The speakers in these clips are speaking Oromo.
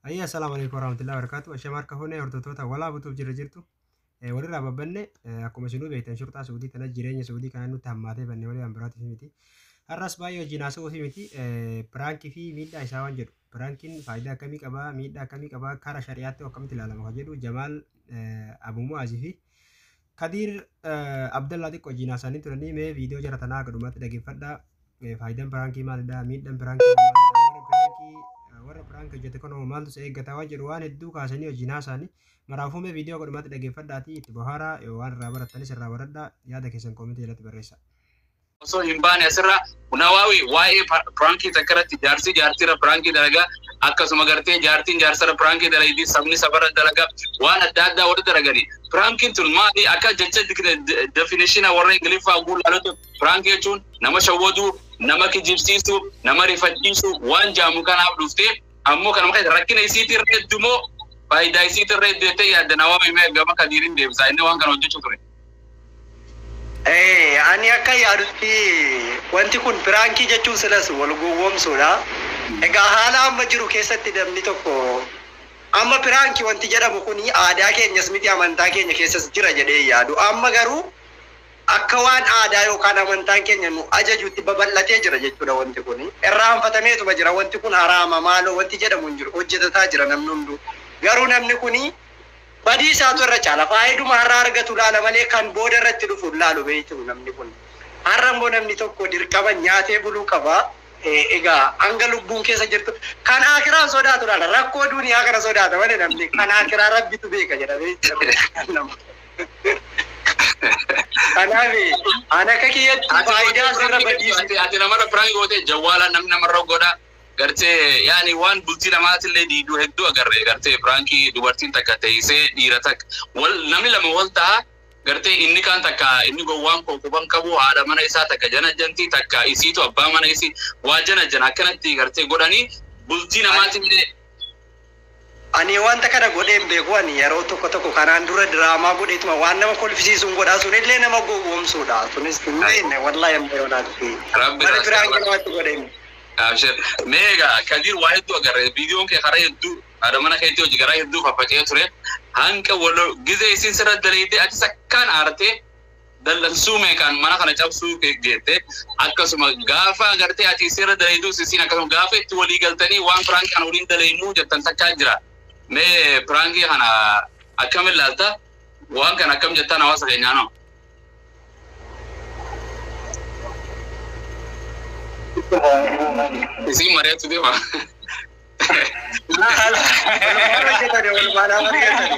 Ayyaa salaamu alaikum warahmatullahi wabarakatuh. Ashamaa harka fuunee hordoftoota walaa butuuf jirra jirtu. Eh, Walirraa babbanne eh, akkuma isinuu beektan shurxaa suudii kana jireenya suudii kana nutti hammaatee banne malee waan biraatiif miti. Har'as baay'ee wajjin haasa'uuf miti. Eh, Piraankii fi miidhaa isaa waan jedhu. Piraankiin faayidaa akkamii qabaa? Miidhaa akkamii qabaa? Karaa shari'aatti akkamitti ilaalama kan jedhu Jamaal eh, Abu Mu'aazii fi Kadiir Abdallaa xiqqo jiinaa isaanii turanii mee viidiyoo jara tanaa akka dhumaatti dhaggeeffadha. Faayidaan piraankii maalidha? Miidhaan piraankii maalidha? Warra piraankii warra piraank hojjete kanoo maaltu si eeggata waan jedhu waan hedduu kaasanii hojiin haasaanii. Maraafuu mee viidiyoo akka dhumaatti dhaggeeffadhaatii itti bohaaraa yoo waan irraa barattanis irraa baradhaa yaada keessan koomentii jalatti barreessaa. osoo hin baane asirraa Nawaawi waa'ee pa- piraankii takka irratti jaarsi jaartiirra piraankii dalagaa akkasuma gartee jaartiin jaarsarra piraankii dalagdi sabni sabarra dalagaa waan adda addaa warri dalagani piraankiin tun maali akka jecha definishina warra ingiliffaa oguu laalatu piraankii jechuun nama shawwaduu nama kijibsiisuu nama rifachiisuu waan jaamu kanaaf dhuftee ammoo kanuma keessa rakkina isiitirra heddumoo faayidaa isiitirra hedduu jettee yaadda Nawaawi mee gama kadiiriin deebisaa inni waan kana hojjechuu ture. Eh, ani akka yaadutti wanti kun piraankii jechuun silas wal gowwoomsuudha. Egaa haala amma jiru keessatti namni tokko amma piraanki wanti jedhamu kun aadaa keenyas miti amantaa keenya keessas jira jedhee hin yaadu. Amma garuu akka waan aadaa yookaan amantaan keenya nu ajajutti babal'atee jira jechuudha wanti kun. Irraanfatameetuma jira wanti kun haraama maaloo wanti jedhamu hin jiru hojjetataa jira namni hunduu. Garuu namni kun Badii isaatu irra caala. Faayiduma har'a argatu laala malee kan booda irratti dhufu hin laalu beektuu namni kun. Har'a immoo namni tokko dirqaman nyaatee buluu qaba. Egaa hanga lubbuun keessa jirtu kan aakiraa hin sodaatu laala. Rakkoo duuniyaa kana sodaata malee namni kan aakiraa rabbitu beeka jedha beektuu. Kanaaf an akka kiyyatti Ati faayidaa godhee asirra prank badiisu. gootee ati ati namarra prank gootee jawwaala namni namarra godha. gartee yaani waan bultii namaatillee diidu hedduu agarre gartee piraankii dubartiin takka teeysee dhiira takk wal namni lama wal taha gartee inni kaan takka inni gowwaan koo quban qabu haadha mana isaa takka janajjanti takka isiitu abbaa mana isii waa janajjana akkanatti gartee godhanii bultii namaatillee Ani wanta kana godhee hin beeku ani yeroo tokko tokko kanaan dura diraamaa godheetuma waan nama kolfisiisuun godha sunillee nama gowwoomsuudha sunis hin beekne wallahi amma yoonaatti Rabbi wani irraa biraan sirra namatti godhe hin Abshir. Mee egaa Kadir waa hedduu agarre viidiyoon kee karaa hedduu haadha mana keetii hojii garaa hedduu faffaca'ee ture. Hanqa walo gizee isiin sirra daleeydee atis akkaan aartee dallansuu meeqaan mana kana cabsuu ke- geette akkasuma gaafa agartee ati isirra daleeyduu sisiin akkasuma gaafa itti walii galtanii waan piraanki kana waliin daleeynuu jettan takkaa jira mee piraankii kana akkam ilaalta waan kana akkam jettaan hawaasa keenyaa noo isiin mari'atu deema Maal hojjetani walumaan amma dhiyeessani?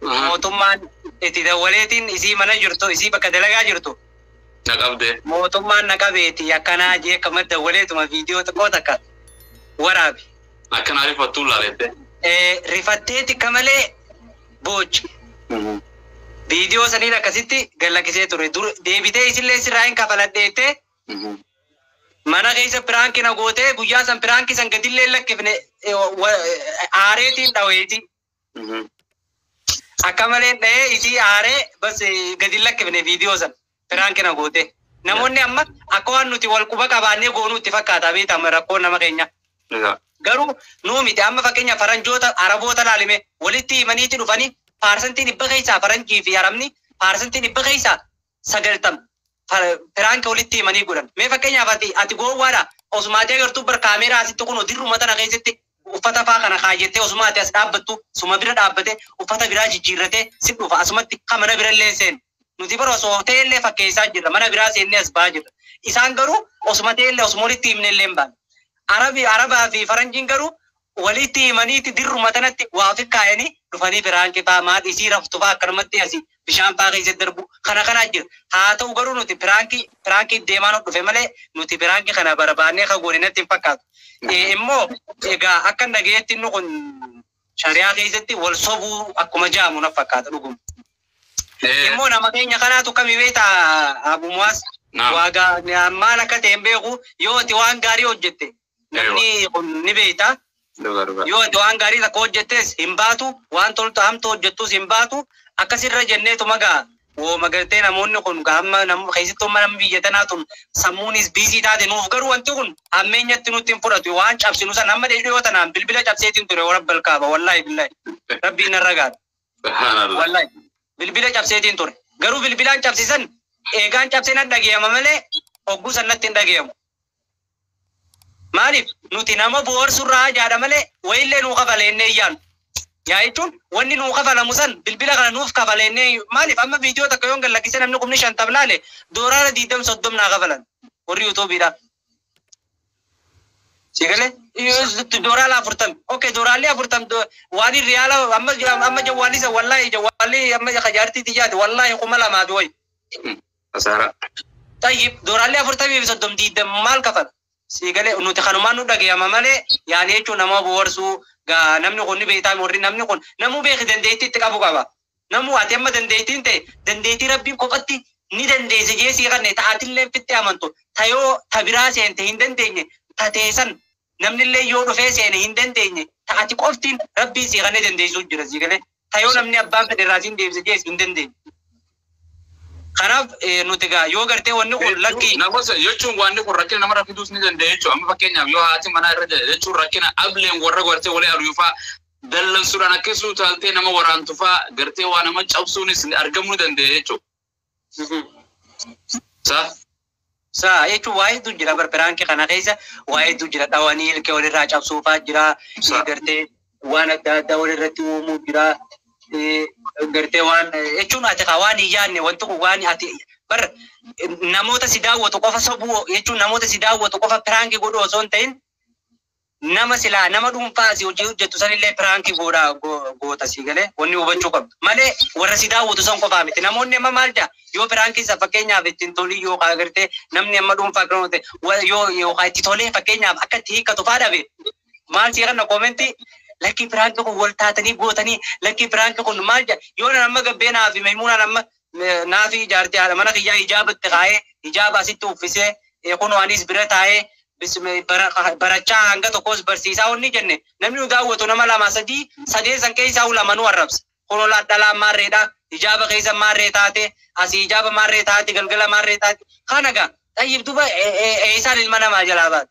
Mootummaan itti dawwaleetiin isii mana jirtu isii bakka dalagaa jirtu Na qabde. mootummaan na qabeeti yakkanaa jee akkuma dawwaleetuma viidiyoo xiqqoo takka waraabi. Akka naa rifattuun laaleette. Eh, rifattee tikka malee boochi. Viidiyoo saniin akkasitti gad lakkisee ture. Dur deebitee isillee sirraa hin kafaladheettee mana keessa piraanki na gootee guyyaa san piraanki san gadillee hin lakkifne eh, wa- eh, aareetiin dhaweeti. Akka malee dhahee isii aaree bas gadi hin lakkifne viidiyoo san piraanki na goote. Namoonni amma akka waan nuti wal quba qabaannee goonuu itti fakkaata beekta amma rakkoon nama keenya. Garuu nuu miti amma fakkeenya faranjoota araboota laalime walitti himaniiti dhufanii paarsantii dhibba keessaa faranjii fi arabni paarsantii dhibba keessaa 90 prank walitti himanii godhan mee fakkeenyaaf ati ati gowwaadha osuma ati agartuu bar kaameeraa asitti kun dirruma tana keessatti uffata faa kana kaayyattee osuma ati as dhaabbattu suma bira dhaabbate uffata biraa jijjiirratee si dhufa asumatti ka mana bira illee seenu nuti bara osoo ta'e illee fakkeessaa jirra mana biraa seennee as ba'aa jirra isaan garuu osuma ta'e illee osuma walitti himne illee hin baane arabi arabaa fi faranjiin garuu waliitti himaniiti dirruma tanatti waa ofi kaayani dhufanii piraanki faa maa dhisii raftu faa akkanumatti asi bishaan faa keessa darbu kana kana jira haa ta'u garuu nuti piraanki piraanki iddeemaa nu dhufe malee nuti piraanki kana barbaannee ka goone natti hin fakkaatu ee immoo egaa akkan dhagayetti inni kun shariyaa keessatti wal sobuu akkuma jaamu na fakkaata dhuguma Ee, immoo nama keenya kanaatu kami beekta abu muwaas Naam. waagaa maal akka ta'e hin beeku yoo ati waan gaarii hojjette Namni kun ni beekta. Dhuga dhuga. Yoo ati waan gaarii takka hojjettes hin baatu, waan toltu hamtu hojjettus hin baatu. Akkas irra jenneetuma gaa wooma gartee namoonni kun gaa amma nam- keessattuu amma namni biyya tanaa tun sammuunis biizii taate nuuf garuu wanti kun hammeenyatti nutti hin fudhatu waan cabsinu san amma dhiyoo tanaan bilbila cabseetiin ture warabbal kaaba wallaahi billaahi rabbiin narra gaadha. Subhanallah. Wallahi. Bilbila cabseetiin ture. Garuu bilbilaan cabsisan eegaan cabsee na dhagayama malee hogguu san natti hin dhagayamu. Maaliif? Nuti nama bohaarsu irraa haajaadha malee wayiillee nuu kafale jennee hin yaadnu. Yaa jechuun wanni nuu kafalamu san bilbila kana nuuf kafale jennee hin Maaliif amma viidiyoo takka yoon gad lakkise namni kumni shantam laale dooraara diiddam soddom naa kafalan warri yuutuubiidhaa. Sii galee? Iyyuu dooraala afurtam. Ok dooraalli afurtam do- waan hin riyaala amma amma jawwaalli san wallaahi jawwaalli amma ka jaartii tiyyaati wallaahi kuma lamaa fi wayi. kasaaraa. Xayyib dooraalli afurtamii fi soddom diiddam maal kafala? Sii galee nuti kanumaan nu dhagayama malee yaani jechuun nama boharsuu gaa namni kun ni beektaami warri namni kun namuu beeki dandeettii itti qabu qaba. Namuu ati amma dandeettiin ta'e dandeettii rabbiin kophatti ni dandeesse jee sii kanne ta atilleen fixxee amantu ta yoo ta biraa seente hin dandeenye ta tee san namnillee yoo dhufee seene hin dandeenye ta ati qoftiin rabbiin sii kannee dandeessuu jira sii galee. ta yoo namni abbaan fedhe irraa siin deebise jees hin dandeenye. Kanaaf eh, nuti egaa yoo gartee wanni kun Hedduu lakkii nama sa- jechuun wanni kun rakkina namarra fiduus ni danda'a jechuudha. Amma fakkeenyaaf yoo haati manaa irra jala jechuun rakkina ableen warra gartee walii aluu faa dallansuudhaan akkasuu taaltee nama waraantu faa gartee waa nama cabsuunis argamuu ni danda'a jechuudha. Sa. Sa jechuun waa hedduu jira bar piraanki kana keessa waa hedduu jira dhawanii ilkee walirraa cabsuufaa jira Sa. gartee waan adda addaa walirratti uumuu jira Eh, gartee waan eh, jechuun ati kaa waan hin yaadne wanti kun waan ati bar eh, namoota si daawwatu qofa sobuu jechuun namoota si daawwatu qofa piraanki godhu osoo hin ta'in nama silaa nama dhuunfaa asii hojii hojjettu sanillee piraanki goodha go- goota sii galee wanni hubachuu qabdu malee warra si daawwatu san qofaa miti namoonni amma maal jaa yoo piraanki isa fakkeenyaaf itti hin tolii yoo kaa gartee namni amma dhuunfaa akka namatti wa- yoo yoo kaa itti tolee fakkeenyaaf akka itti hiikkatu faa dhabe maal sii kanna koomentii lakkii piraanki kun wal taatanii gootanii lakkii piraanki kun maal jaa yoo nan amma gabbeenaa fi maymuunaan amma Naafii jaartii haadha mana kiyyaa hijaaba itti kaa'ee hijaaba asitti uffisee eh, kunoo anis bira taa'ee bismi- bara- barachaa hanga tokkos barsiisaa wanni jenne namni nu daawwatu nama lama sadii sadeen san keessaa hu lamanuu arrabsa. Kunoo la- dhalaan maarreedha hijaaba keessa maarree taate asii hijaaba maarree taate galgala maarree taate kana gaa xayyib duba eh, eh, eessaan ilma namaa jalaa baate.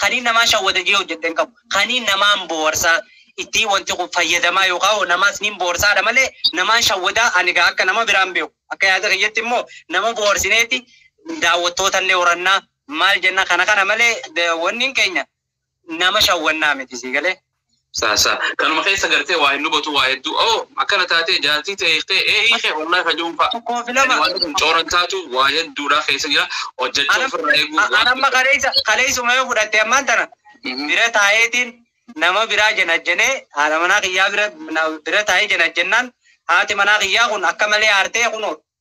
Kaniin namaa shawwada jee hojjedhe hin qabu. Kaniin namaan booharsaa ittii wanti kun fayyadamaa yookaan hoo namaas niin boorsaadha malee namaan shawwadaa ani egaa akka nama biraan beeku. Akka yaada kiyyatti immoo nama boorsineeti daawwattoota illee horannaa maal jenna kana kana malee wanniin keenya nama shawwannaa miti sii galee. Saa saa. Kanuma keessa gartee waa hin dubatu waa hedduu. Oo akkana taatee jaartii ta'e hiiktee ee hiikee wallahi kajuun fa'a. Tokkoo fi lama. Wanti kun cooran taatu waa hedduudhaa keessa jira. Hojjechuu Anam- ofirraa eeguu a- waan anamma kaleessa kaleessuma yoo fudhatte ammaan tana Mhm. bira taa'eetiin nama biraa janajjanee haadha manaa kiyyaa bira na- bira taa'ee janajjannaan haati manaa kiyyaa kun akka malee aartee kunoo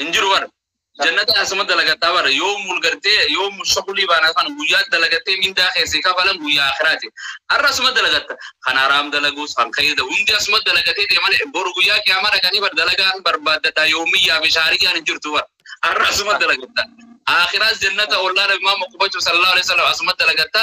hin jiru bara jannata asuma dalagattaa bara yoo mul gartee yoo mul shakulii baanaa kana guyyaa dalagattee mindaa keessi kafalan guyyaa akiraati har'a asuma dalagatta kan haraam dalaguus kan kayyada hundi asuma dalagatee deeman boru guyyaa qiyaamaa dhaqanii bar dalagaan barbaaddadha yoomiyyaa fi shaariyyaan hin jirtu bara har'a asuma dalagatta akiraas jannata ollaa nabi maamma qubachuu sallallahu alaihi wasallam asuma dalagatta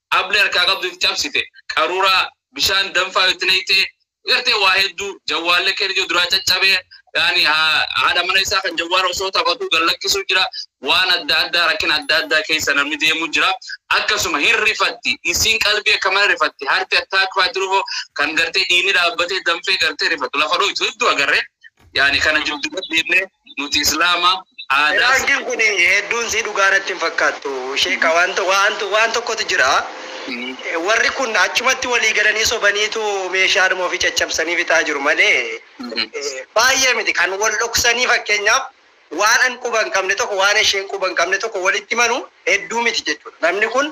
Ablee harkaa qabdu itti cabsite. Qaruuraa bishaan danfaa itti nayxee gartee waa hedduu jawwaallee keen ijoo duraa caccabee yaani haadha mana isaa kan jawwaara osoo taphatuu gad lakkisuu jira waan adda addaa rakkina adda addaa keessa namni deemuu jira akkasuma hin rifatti isiin qalbii akka mana rifatti harti attaakfaa jiruufoo kan gartee dhiinni dhaabbatee danfee gartee rifatu lafa dhooytu hedduu agarree Yaani kana jiru dubadhu jenne nuti islaama aadaa. Piraankin kun hedduun sii dhugaa natti hin fakkaattu sheeka waan waan waan tokkotu jira warri kun achumatti walii galanii sobaniitu meeshaadhuma ofii caccabsanii fixaa jiru malee baay'ee miti kan wal dhoksanii fakkeenyaaf Waan an quba hin qabne tokko waan esheen quba hin qabne tokko walitti himanu hedduu miti jechuudha. Namni kun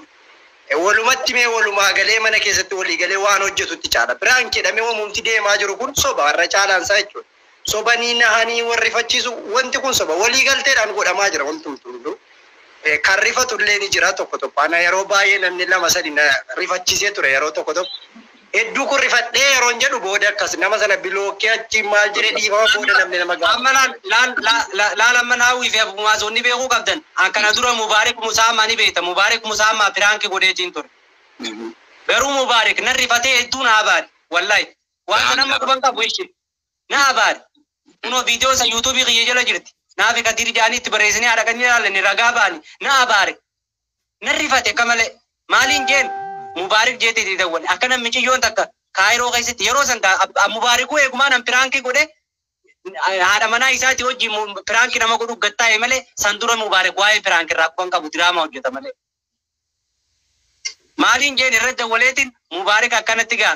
walumatti himee walumaa galee mana keessatti walii galee waan hojjetutti caala. Prank jedhamee wamumti deemaa jiru kun soba har'a caalaan isaa jechuudha. Sobanii nahanii wal rifachiisu wanti kun soba. Walii galteedhaan godhamaa jira wantumtuu hunduu. Eh, Kan rifatu illee ni jira tokko tokko. Ana yeroo baay'ee namni lama sadi na rifachiisee ture yeroo tokko tokko. Hedduu kun rifadhee yeroon jedhu booda akkas nama sana bilookkee achiin maal jedhe dhiifama booda namni nama gaafata. Amma laal laal laal laal amma naawii fi abumaas wanni beekuu qabdan an kana dura mubaarik musaammaa ni beekta mubaarik musaammaa piraanki godheetiin ture garuu mubaarik nan rifatee hedduu na abaare wallahi waan san amma quban qabu ishi na abaare kunoo viidiyoo san yuutuubii kiyya jala jirti naafi kadiir jaanii itti bareessinee haadha kan ilaalani ragaa baani na abaare Nan rifate akka malee. Maaliin jeen Mubaarik jeetti itti dawwale. Akkana miciyyoon takka Kaayiroo keessatti yeroo san gaa ab Mubaarikuu eegumaa nan piraankii godhe haadha manaa isaati wajjiin mu piraankii nama godhuu gad taa'e malee san dura Mubaarik waa'ee piraanki irraa quban qabu diraamaa hojjeta malee. Maaliin jeen irra dawwaleetiin Mubaarik akkanatti gaa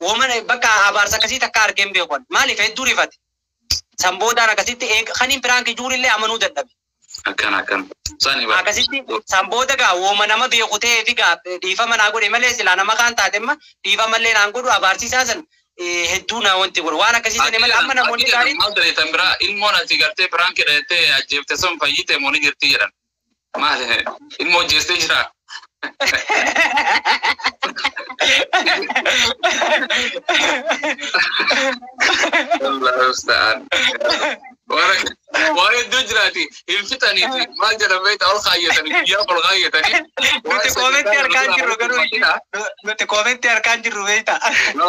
Woma bakka abaarsa akkasii takkaa argee hin beeku ani. Maaliif hedduu rifate. San boodaan akkasitti eega kaniin piraanki juurillee amanuu dadhabe. Akkana akkana. Sani bar. Akkasitti san booda gaa woma nama beeku ta'eefi gaa dhiifama naa godhe malee silaa nama kaan taatemma dhiifamallee naan godhu abaarsi isaa san eh, hedduu na wanti godhe. Waan akkasii sani malee amma namoonni gaariin Maal ta'e tan biraa ilmoon ati gartee piraanki dhayattee ajjeefte sun fayyite moo ni jirti jedhan. Maal ilmoo jeestee jira. Allahu musta'an. Waan hedduu jiraati hin fixaniiti maal jedhan beektaa ol kaayyatanii guyyaa ol kaayyatanii. Nuti koomentii arkaan jirru garuu nuti koomentii arkaan jirru beektaa.